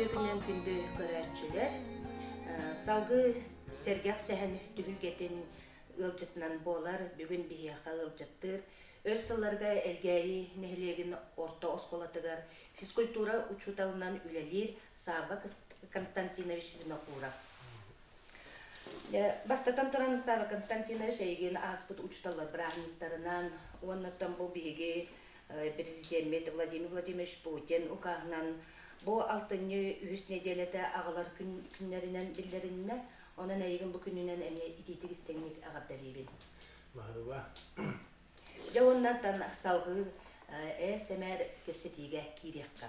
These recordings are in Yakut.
Үтүөкүнэн күндү көрөөччүлэр, салгыы сэргэх сэһэн түһүлгэтин ыалдьытынан буолар бүгүн биһиэхэ ыалдьыттыыр өр сылларга Элгээйи нэһилиэгин орто оскуолатыгар физкультура учууталынан үлэлиир Саaba Константинович Винокуров. Бастатан туран, Константинович эйигин ааспыт учууталлар бырааһынньыктарынан уонна бу биһиги президеммит Владимир Владимирович Путин укааһынан бу алтынньы үһүс нэдиэлэтэ аҕалар күннэринэн биллэриннэ. Онон эйигин бу күнүнэн эмиэ итиитик истиҥник эҕэрдэлиибин. Маһыба. Дьэ уоннантан салгыы э, СМР кэпсэтиигэ киириэххэ.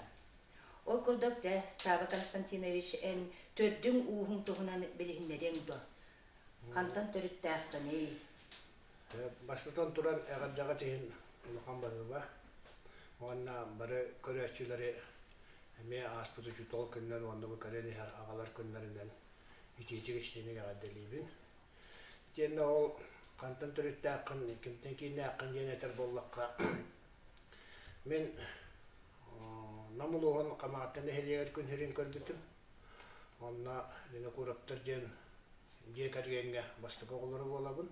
Ол курдук, дьэ, Саба Константинович, эн төрдүҥ-ууһуҥ туһунан билиһиннэриэҥ дуо? Хантан төрүттээххиний? Бастатан турар, эҕэрдэҕит иһин улахан баһыыба уонна бары көрөөччүлэри эмиэ ааспыт учуутал күннэрин уонна бу көрөн иһэр аҕалар күннэринэн итиитик истиҥник эҕэрдэлиибин. Итиэннэ ол хантан төрүттээххин, кимтэн кииннээххин диэн этэр буоллахха, Мин Нам улууһун Хамаатта нэһилиэгэр күн сирин көрбүтүм. Онно Винокуровтар диэн дьиэ кэргэҥҥэ бастакы оҕолоро буолабын.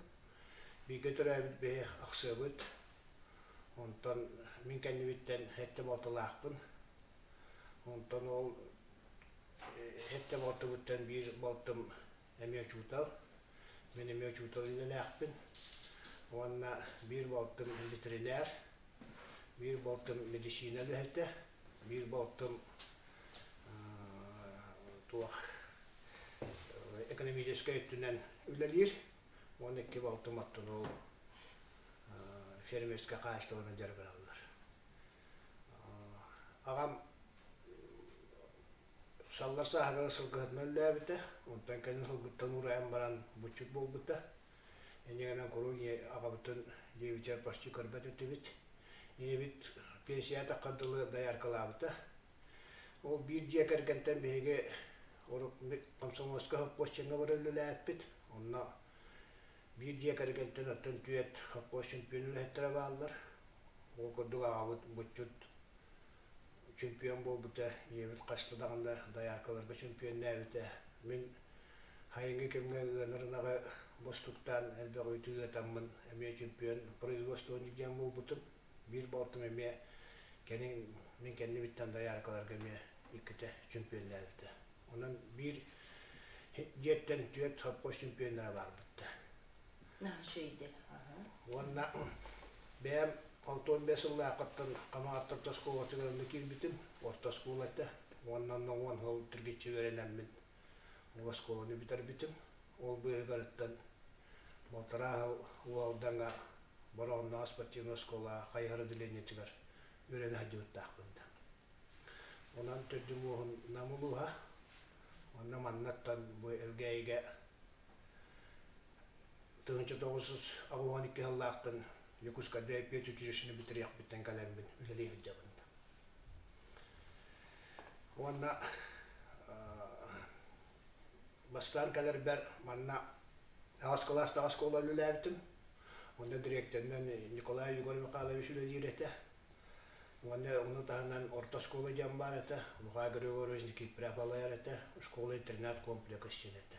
Бииргэ төрөөбүт бэһи ахсыабыт. Онтон мин кэннибиттэн сэттэ балтылаахпын. Онтон ол сэттэ балтыбыттан биир балтым эмиэ учуутал. Мин эмиэ учуутал иннинээхпин. Уонна биир балтым ветеринэр, биир балтым медицина үлэһитэ, биир балтым туох экономическай өттүнэн үлэлиир, уонна икки балтым оттонол фермерскэ хаачыстыбаны дьарыктаналлар. Аҕам Саллар сааһырара сылгыһытынан өллөөбүтэ, онтон кэлин сылгыттан уурайан баран буччут буолбута. Ини гынан куруук аҕабытын девичар почти көрбөт этибит. Ийэбит пенсияҕа атахха дылы дояркалаабыта. Ол биир дьиэ кэргэнтэн биһиги урут комсомольскай сопхуосчуҥҥа баран үлэлээппит. Онно биир дьиэ кэргэнтэн оттон түөрт сопхуосчут үлэһиттэрэ бааллар. Ол курдук аҕабыт буччут чемпион буолбута, ийэбит хаста даҕаны дояркаларга чемпионнээбитэ. Мин хайыҥҥы кэмҥэ ыанар ынаҕы бостуктаан элбэх үүтү ыатаммын эмиэ чемпион производствоны диэн буолбутум. Биир балтым эмиэ кэнин мин кэннибиттэн дояркаларга эмиэ иккитэ чемпионнээбитэ. Онон биир дьиэттэн түөрт сопхуос чемпионнара баарбыттар. Уонна бэйэм алтан бэс сыллаахыттан Хамаҕаттан орто оскуолатыгар киирбитим. Орто оскуола этэ. Уоннан уон сыл түргиччи үөрэнэммин оскуоланы бүтэрбитим. Ол быыһыгарыттан балтараа сыл Уалдаҥа Бороҕоннооҕу спортивнай оскуола хайыһар отделениетыгар үөрэнэ сылдьыбыттаахпын. Онон төрдү муоһун намылыһа онно маннаттан бу Элгээйигэ тыһыынча тоҕус жүз аҕыһан икки сыллаахтын Якутское петь училищены бүтэриэхпиттэн кэлэммин үлэлии сылдьабын. Уонна бастаан кэлэрбэр манна аҕас кылаастаах оскуола үлэлээбитим. Онно дириэктэринэн Николай Егор Михайлович үлэлиир этэ. Уонна ону таһынан орто оскуола диэн баар этэ. Михаил Григорьевич Никитпряев балайар этэ. Школа-интернат комплекс син этэ.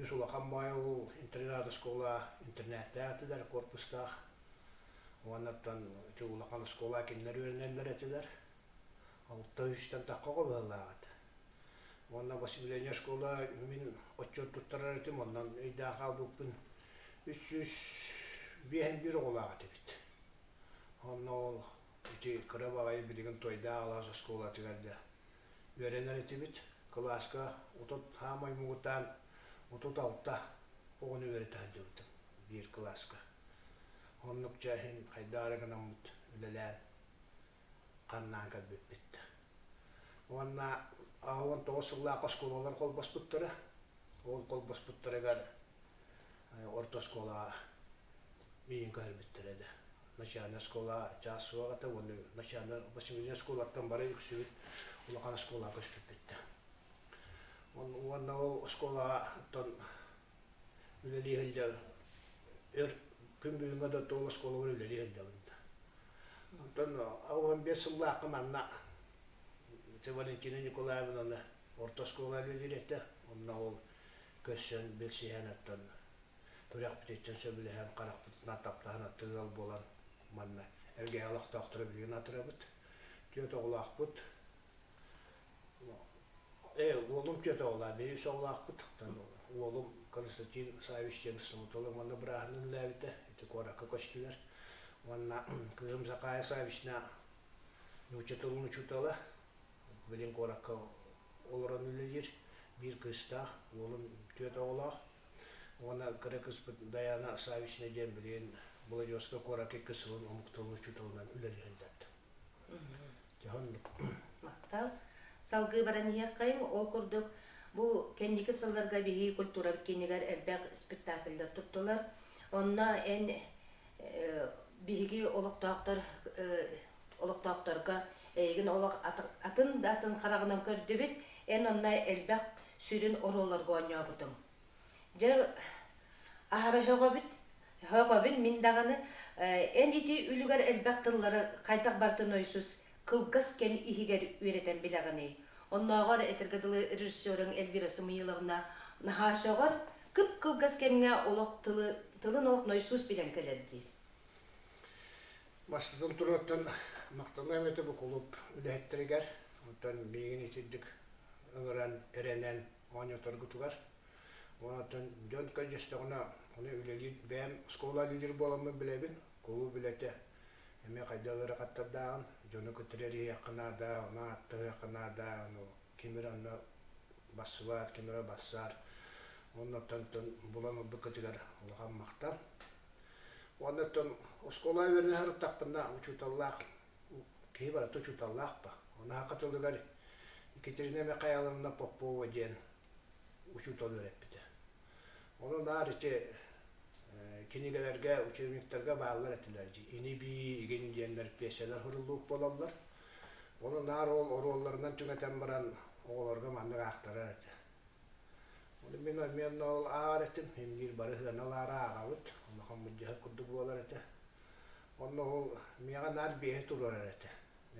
Үс улахан баай ол интернат оскуола интернаттээх этилэр корпустаах. Уоннаттан ити улахан оскуола кинилэр үөрэнэллэр этилэр. Алта үстэн тахха оҕолоһуулаах этэ. Уонна восстановление школа мин отчет туттарар этим, онон өйдөөх хаалбыппын. Үс сүүс биэһин биир оҕолаах этибит. Онно ол ити кыра баҕайы билигин Тойдаа алаас оскуолатыгар да үөрэнэр этибит. Кылааска отут саамай муҥутаан отут алта оҕону үөрэтэ сылдьыбытым биир кылааска. Оннук ча иһин хайдаа эрэ гынаммыт үлэлээн ханнаан кэлбиппит уонна он тоҕус сыллаах оскуолалар холбоспуттара ол холбоспуттарыгар орто оскуолаҕа миигин көһөрбүттэрэ да начальнай оскуола чаас суох этэ уонна начальнай восьмиднай оскуолаттан бары үксүбүт улахан оскуолаға көспүппүттэр уонна ол оскуолаҕа үлэлии сылдьар эр күн бүгүҥҥэ да тоол оскуолабар үлэлии сылдьабын да онтон уон биэс сыллаахха манна Валентина Николаевнаны орто оскуолаҕа үлэлиир онно ол көрсөн билсиһэн оттон күрэхпититтэн сөбүлэһэн харахпытынан таптаһан аттыыр ыал буолан манна эргэһэ олохтоохторо билигин атырабыт түөрт оҕолоохпут Ээ, уолум тетоҕолаах, биир оҕолоохпут, уолум Константин Савич диэн субуталын уонна бырааһын үллээбитэ, ити куоракка көстүлэр. Уонна кыым Закая Савична нуучча тылын учуутала, билин куоракка олорон үлэлиир, биир кыыстаах, уолум түөрт оҕолоох. Уонна кыра кыыспыт Даяна Савична диэн билигин Благовскай куоракка икки сылын омук тылын учууталынан үлэлиһэллэр. Махтал. Салгыы баран иһиэххэйиҥ, ол курдук, бу кэнники сылларга биһиги культурабыт киинигэр элбэх спектакльдар туттулар. Онно эн биһиги олохтоохтор олохтоохторго эйигин олох атын да атын хараҕынан көрдүбүт. Эн онно элбэх сүрүн оруолларга оонньообутуҥ. Дьэ, аһара сөҕөбүт. Сөҕөбүн мин даҕаны эн ити үлүгэр элбэх тыллары хайдах барытын ойсус кылгас кэм иһигэр үөрэтэн билэҕиний? Оннооҕор этэргэ дылы режиссеруҥ Эльвира Самуиловна наһаа сөҕөр, кып-кылгас кэмҥэ олох тылы тылын-олох нойсуус билэн кэлэр диир. Бастатан туруоттан махталым эбэтэ бу кулууп үлэһиттэригэр, оттон миигин итирдик ыҥыран, эрэнэн моонньоторгутугар уонтан дьон көдьөстөҕүнэ ону үлэлиир бэйэм оскуола лидер буоламмын билэбин кулууп үлэтэ эмиэ хайдах ыарахаттардааҕын дьону кытары эриһиэххэ наада ону ааттаһыахха наада ону кимир анна бассыбаат кимирэ бассаар оннуттан булан ылбыккытыгар улахан махтал уонна оскуола үөрэнэ сырыттахпына учууталлаах киһи барыта учууталлаах па унаһака тылыгар Екатерина Михайловна Попова диэн учуутал үөрэппитэ Ону наар ити кинигэлэргэ учебниктарга бааллар этилэр инибии игин диэннэр пьесалар хуруллуук буолаллар Ону наар ол оруолларынан түҥэтэн баран оҕолорго маннык аахтарар этэ Ону мин обменна ол аар этим имниир бары хыана ааҕабыт улахан мыддьаһык курдук буолар этэ Уонна ол миэхэ наар биэһэ туруорар этэ.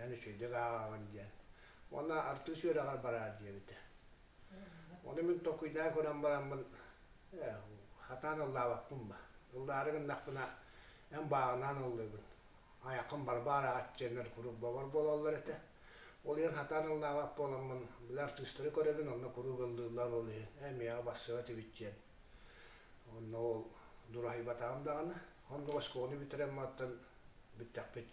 Эн үчүгэйдик ааҕаҕын диэн. Уонна артыыс үөрэҕэр бараар диэбитэ. Ону мин токуйдаан көрөн бараммын, ээ, сатаан ыллаабаппын ба. Ыллаары гыннахпына, эн бааҕынаан ыллыыгын. Айаххын бары баараҕат диэннэр куруук бобор буолаллар этэ. Ол иһин сатаан ыллаабат буоламмын, били артыыстары көрөбүн, онно куруук ыллыыллар ол иһин, ээ, миэхэ бассыабат эбит диэн, Онно ол дураһыйбатаҕым даҕаны. Онно оскуоланы бүтэрэн маттан бүттэхпит.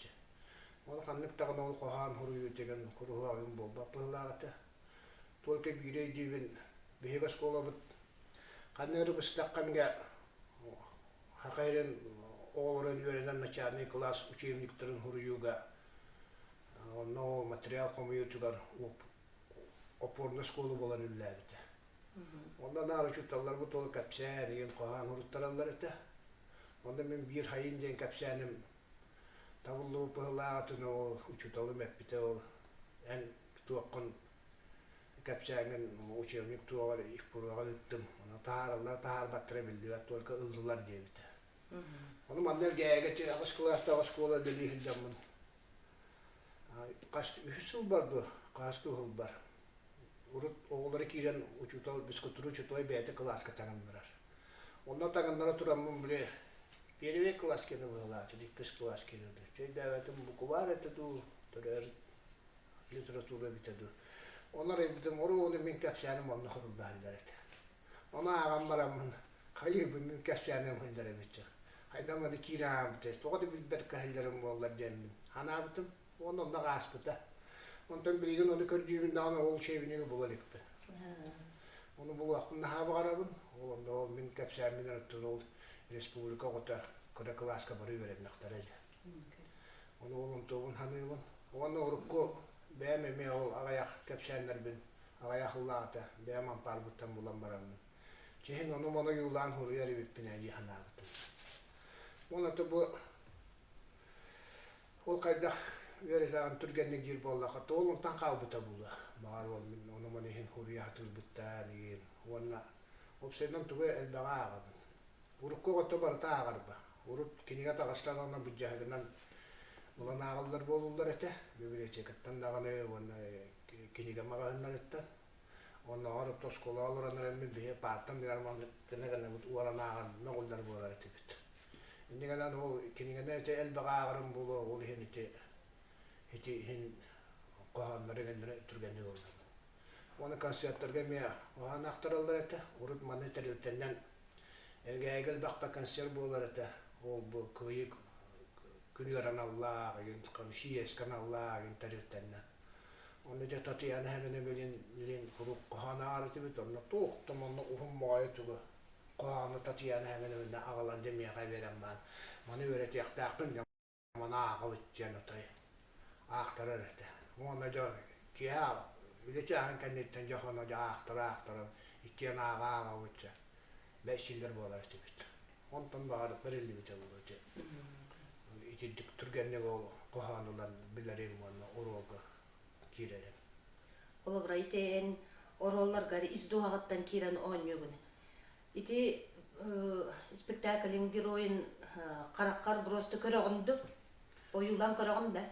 Ол ханнык даҕаны ол хоһоон хоруйу дэгэн куруһуогун буолбат быһылаах этэ. Только биири өйдүүбүн биһиги оскуолабыт ханна эрэ быстаххамга хахайрын оҕолорун үөрэнэн начальный класс учебниктарын хоруйууга онно ол материал хомуйуутугар опорнай школа буолан үлэлээбитэ. Онно наары учууталларбыт толу кэпсээн, иин хоһаан уруттараллар этэ. Онно мин биир хайын диэн кэпсээним табыллыбыт быһылаах атыны ол учууталым эппитэ ол эн туоххун кэпсээҥҥин учебник туоҕар их пуруоҕа ыыттым оны таһаараллар таһаарбаттара биллибэт только ыллылар диэбитэ Ону манна эргээгэ аҕыс кылаастаах оскуола үлэлии сылдьаммын хас үһүс сыл бар дуо хааска уһулбар урут оҕолоро киирэн учуутал бескультура учуутала бэйэтэ кылааска таҥыннарар онно таҥыннара тураммын били первый класс киэнэ быһылааччыт иккис класс киирэрдэ чэйдээбэтим букубаар этэ дуу төрөөбүт литература эбитэ дуу онор айбытым оруобуну мин кэпсээним онно хорулдаһаллар этэ Ону ааҕан бараммын, хайыыбынныын кэпсээн өҥүһүннэрэбиттэр. Хайдах эмэ киирэ аһаабыта, тоҕо да билбэт кэһиллэрим буоллар диэммин, санаабытым уонна онно ааспыта. Онтон билигин ону көрдүүбүн даҕаны ол учебнигы була иликпин. Ону булуохпун наһаа баҕарабын. Ол онно ол мин кэпсээмминэн оттон ол республика оҕото кыра кылааска бары үөрэннэхтэрэ ини. Оны улум тобун ханыыбын. Уонна урукку бэйэм эмиэ ол аҕыйах кэпсээннэрбин аҕыйах ыллаата бэйэм ампаарбыттан булан бараммын. Чиһин ону монойуулаан суруйар эбиппин ээ дии санаабытым. Уонна бу ол хайдах үөрэтаҕын түргэнник диир буоллахха туолунтан хаалбыта була баҕар ол мин ону мону иһин суруйа сатыырбыттаан иһин уонна уопсайынан тугу элбэҕи ааҕабын урукку оҕото барыта ааҕарба Урут кинигэ таҕыстан онно буддьаһыгынан ылан ааҕыллар буолуллар этэ. Библиотекаттан даҕаны уонна кинигэ маҕаһыыннарыттан. Оннооҕор оскуола олорон эрэммин биһи паартан гына гынабыт уоран ааҕан мөҕүллэр буолар этибит. Инньэ гынан ол кинигэни ити элбэҕи ааҕарым буолуо, ол иһин ити ити иһин хоһооннору гэннэри түргэнник ыллым. Уонна концертарга эмиэ уһаан ахтараллар этэ. Урут маны тэрилтэнэн Эгээйигэ элбэхпэ концерт буолар этэ. Ол бу кыайыы күн ыараналлаах, игин КМЧС каналлаах игин тэрилтэннэ. Онно дьэ Татьяна Хабенебелин билин куруук хоһоон ааҕарытыбыт. Онно туох да манна уһун моҕойо тылы хоһоону Татьяна Хабенебелинэ аҕалан дэмиэхэ биэрэн баан. Маны үөрэтиэхтээхпин Мана аахабыт диэн отой аахтарар этэ. Уонна дьэ киэһэ үлэ чааһын кэнниттэн дьэ хоно дьэ аахтара аахтаран иккиэн ааҕа ааҕабыт дьэ бэчсииллэр буолар этибит. Онтон баҕар бэриллибитэ буолуо дьэ. Итирдик түргэнник ол хоһоон ылан билэрим уонна уруолга киирэрим. Оловра ити эн оруолларгар ис дуоһаҕыттан киирэн оонньуугун. Ити спектаклин геройун хараххар быросты көрөҕүн ду ойуулан көрөҕүн да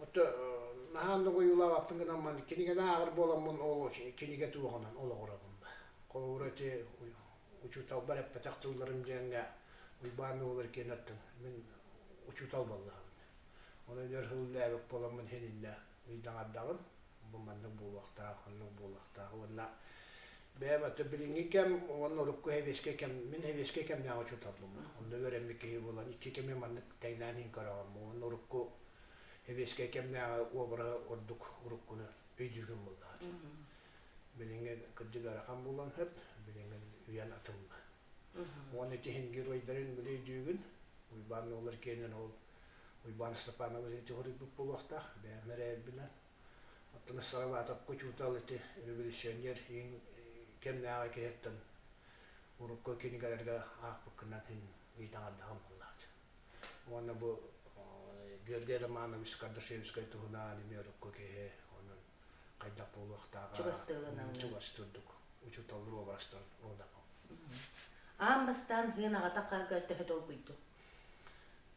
отто наһаан да ойуулаабаппын гынан ман кинигене ааҕар буоламмын ол киниге туоҕунан олоҕурабын ба холобура ити учууталбар эппэтэх тылларым диэҥҥэ уйбаан олар киэнэттің мин учуутал баллаһым ону өлөр хыллээбик боламмын хининнэ ыйдаҥардаҕым бу маннык буолуохтаах, оннук буолуохтаах уонна бэйэм аты билиҥҥи кэм уонна урукку сэбиэскэй кэм мин сэбиэскэй кэмнээҕи учууталбын онно үөрэммит киһи буолан икки кэми маннык тэҥнээн иһин көрөҕүм уонна урукку сэбиэскэй кэмнээҕи уобара ордук уруккуну өйдүүргүн буллаҕыт билиҥҥи кырдьык ыарахан буолан сөп билиҥҥин үйэн атылла уонна ити иһин геройдарын билэ өйдүүгүн уйбаан оҕолор киэнин ол Уйбаан Степанова ити хоруйбут буолуохтаах, бэйэм эрэйэрбинэн. Оттон Сараватовка учуутал ити революционер кэмнээҕи киһиттэн урукку кинигэлэргэ аахпыккынан иһин ыйытаҥардаҕым буоллаҕыт. Уонна бу Георгий Романович Кардашевскай туһунааҕын эмиэ урукку киһи, онон хайдах буолуохтааҕа чугастыырдык учууталлар уобарастан уодапым. Аан бастаан Һыын аҕата Хаарга төһө долгуйдуҥ?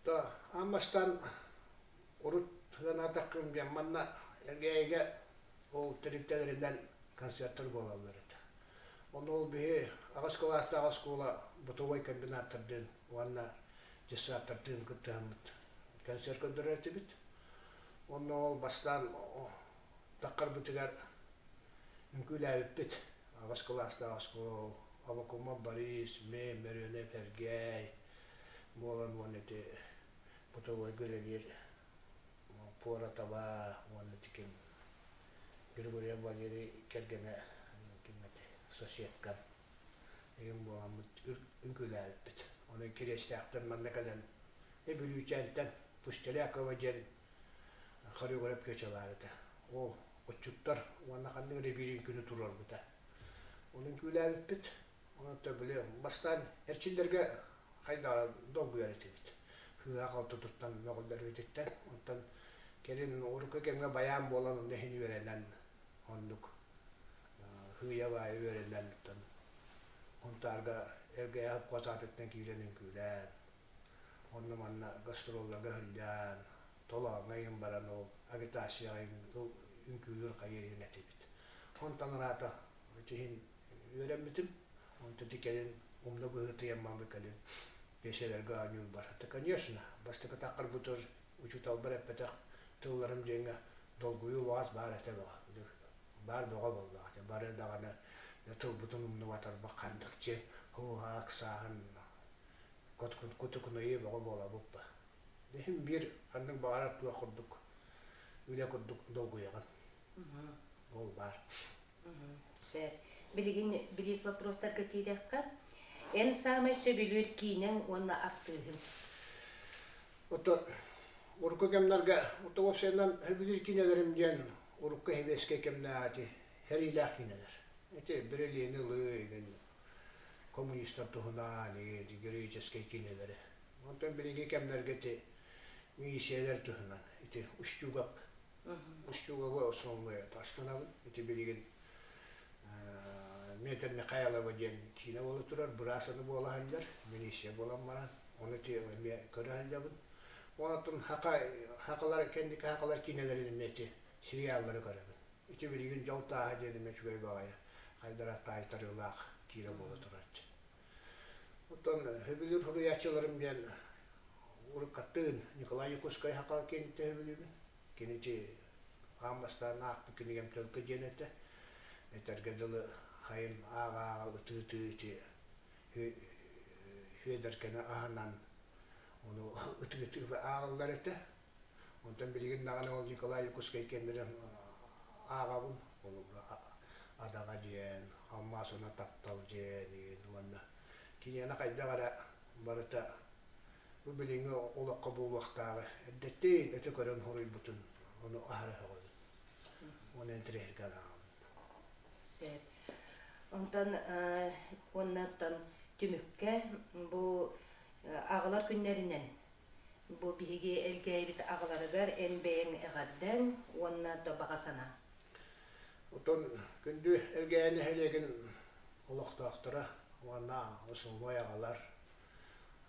то ам бастаан урут санаатаххым диэн манна Элгээйигэ ол тэрилтэлэринэн концерттар буолаллар этэ. Оны ол биһи аҕыс кылаастаах оскуола бытовой комбинаттардыын уонна детсадтардыын кыттыһаммыт концерт көрдөрөр этибит. Онно ол бастаан Таххарбытыгар үҥкүүлээбиппит. Аҕыс кылаастаах оскуола Авакума Борис, Мэй, Мөрүөнэп Эргэй буолан уонна ити бытовой гравир Пуратова уонна ити ким Григорий Валерий кэргэнэ ким этэй соседка игин буоламмыт үҥкүүлээбиппит. Онон Кириэстээхтэн манна кэлэн Эбүлүүчээнтэн Пустелякова диэн хореограф кэчалаан этэ ол отчуттар уонна ханнык эрэ биирин күнү туруорбута онон күүлээбиппит онон били бастаан эрчиллэргэ хайдаҕа долгуйар этибит сыыһа халтытыттан мөҕүллэрбититтэн онтон кэлин урукку кэмҥэ баян буолан онно иһин үөрэнэн оннук сыыйа-баайа үөрэнэн онтон унтаарга эргэйэ хапкаатыттан киирэн үҥкүүлээн Онно-манна гастролларга сылдьан, толооҥҥо айан баран ол агитацияҕа үҥкүүлүүр хайы иһин этибит. Онтон ыраата иһин үөрэммитим. Онто ити кэлин умна быһыытыйаммаммыт кэлин пьесэлэргэ оонньуурбар. Та конечно, бастакы таххарбытыгар учууталбар эппэтэх тылларым диэҥҥэ долгуйуу убаҕас баар этэ бөҕө. Баар бөҕө буоллаҕа этэ. Бары даҕаны тылбытын умнубатарбыт ханнык дьиэ һууһа ыксааһын кутукунайыы бөҕө буолабыт да иһин биир ханнык баҕарар кыах курдук үлэ курдук долгуйаҕын ол баар сэр билигин бириис вопростарга киирэххэ эн саамай сөбүлүүр киинэҥ уонна артыыһыҥ ото урукку кэмнэргэ ото уопсайынан сөбүлүүр киинэлэрим диэн урукку сэбиэскэй кэмнээҕи сэриилээх киинэлэр ити бирилиэни ылыы игин коммунистар туһунаан, героическай киинэлэри, онтон биһиги кэмнэргэ ити миссиялэр туһунан ити устюгак устюгагы основывает астанабыт ити билигин Метр Михайлова диэн киинэ буола турар быраасаны буола аһаллар милиция буолан баран ону ти эмиэ көрө аһаллабын онтон хака хакалар кэнники хакалар киинэлэрин эмиэ ити сериаллары көрөбүн ити билигин дьол тааһа диэн эмиэ үчүгэй баҕайа Хайдара таайтарыылаах киирэ буола турар. Оттон сөбүлүүр суруйааччыларым диэн уруккаттыын Николай Якутскай хакаан киинин сөбүлүүбүн. Кинити хаан бастаан аахпыт кинигэм тылга диэн этэ. Этэргэ дылы хайын ааҕааҕа ытыытыы ити Хүөдэркэни аһынан ону ытыытыы ааҕыллар этэ. Онтон билигин даҕаны ол Николай Якутскай кэмминэ ааҕабын холобура Адаҕа диэн, Алмаас уна таптал диэн уонна киниэхэ хайдах эрэ барыта бу билиҥҥи олоххо буолуохтааҕы эрдэттэн өтө көрөн хоруйбутун ону аһарыһаҕын оны интэриэһиргэ ааҕабын онтон уоннартан түмүккэ бу аҕалар күннэринэн Бу биһиги элгээйибит аҕаларыгар эн бэйэҥ эҕэрдэн уонна баҕа санаа. Оттон күндү Элгээйи нэһилиэгин олохтоохторо уонна усулуой аҕалар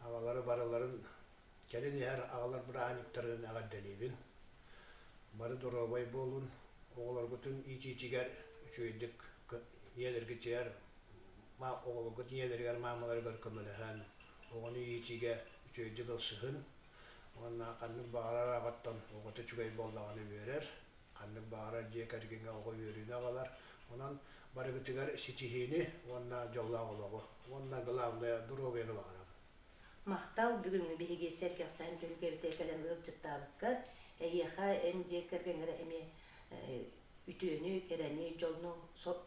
аҕалары барыларын кэлин иһэр аҕалар бырааһынньыктарын эҕэрдэлиибин. Бары доруобай буолун, оҕолоргутун иитиитигэр үчүгэйдик ийэлэргитигэр, оҕолоргут ийэлэригэр, маамаларыгар көмөлөһөн оҕону иитиигэ үчүгэйдик ылсыһын уонна ханнык баҕарар аҕаттан оҕото үчүгэй буоллаҕына үөрэр ханнык баҕарар дьиэ кэргэҥҥэ оҕо үөрүүнү аҕалар онон барыгытыгар ситиһиини уонна дьоллоох олоҕу уонна главное доруобуйаны баҕарабын махтал бүгүҥҥү биһиги сэргэхсэһэн түһүлгэбитэ кэлэн ыалдьыттаабыкка эһиэхэ эн дьиэ кэргэҥҥэ эмиэ үтүөнү кэрэни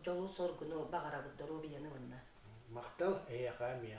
дьолу соргуну баҕарабыт доруобуйаны уонна махтал эһиэхэ эмиэ